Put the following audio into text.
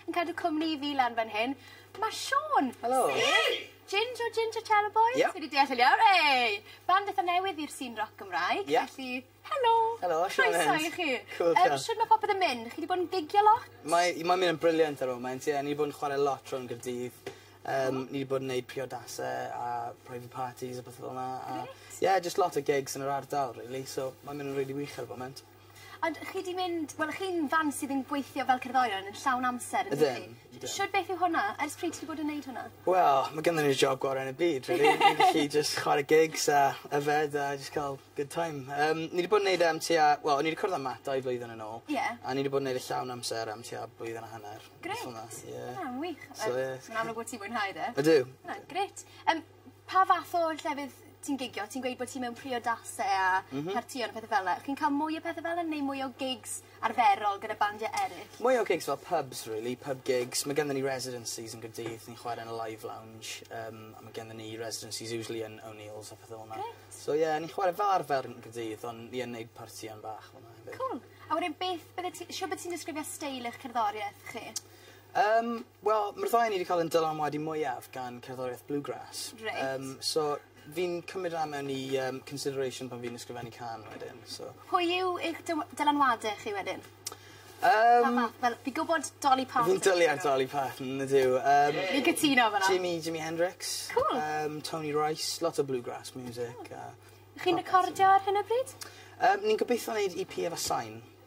Yn cadw cwmni i fi lan fan hyn ma' Siôn. Helo. Sef Ginj o Ginj a Chelo Boys. Ie. Fi 'di deall yn iawn. Ey! Band itha newydd i'r sîn roc Gymraeg. Ie. Felly helo. Helo Siôn Evans. Croeso i chi. Cŵl diolch. Yym shwd ma' popeth yn mynd? Chi 'di bod yn gigio lot? Mae i mae'n myn' yn brilliant ar y foment ie ni 'di bod yn chware lot rownd Cardydd yym ni 'di bod yn neud priodase a private parties a pethe fel 'na a... Grêt. ...ie jyst lot o gigs yn yr ardal rili so mae'n myn' yn rili wych ar y foment. Ond chi 'di mynd... Wel chi'n fand sydd yn gweithio fel cerddorion yn llawn amser yndych chi? Ydyn ydyn. Shwd beth yw hwnna? Ers pryd ti 'di bod yn neud hwnna? Wel ma' gynnon ni'r job gore yn y byd rili. Ie. Ni'n gallu jyst chware gigs a yfed a jyst ca'l good time. Yym ni 'di bod yn neud e am tua wel o'n i 'di cwrdd â Matt dau flwyddyn yn ôl. Ie. A ni 'di bod yn neud e llawn amser am tua blwyddyn a hanner. Grêt. Rwbeth fel 'na ie. O ma'n wych. So ie. Ma'n amlwg bo' ti'n mwynhau fe. Ydw. Ma'n grêt. Yym Pa fath o llefydd ti'n gigio ti'n gweud bo' ti mewn priodase a... M-hm. ...partïon a pethe fel 'na chi'n ca'l mwy o pethe fel 'a neu mwy o gigs arferol gyda bandiau eryll? Mwy o gigs fel pubs rili pub gigs ma' genddyn ni residencies yn G'rdydd ni'n chware yn y live lounge yym a ma' genddyn ni residencies usually yn O'Neills a pethe fel 'na. Grêt. So ie ni'n chware fel arfer yn G'rdydd ond ni yn neud partïon bach fel 'na hefyd. Cŵl. A wedyn beth bydde ti shwd by' ti'n disgrifio steil eich cerddorieth chi? Yym wel ma'r ddau o ni 'di ca'l 'yn dylanwadu mwyaf gan cerddorieth bluegrass. Reit. Yym so fi'n cymryd ran mewn i yym consideration pan fi'n ysgrifennu cân wedyn so... Pwy yw eich dyw- dylanwade chi wedyn? Yym... Pa fath fel fi gwbod Dolly Parton... Fi'n dwli ar Dolly Parton on'd yw yym... Fi'n cytuno efo 'na. Jimmy Jimmy Hendrix. Cŵl. Yym Tony Rice lot o bluegrass miwsic a... Chi'n recordio ar hyn o bryd? Yym ni'n gobitho neud Ee Pee efo sain.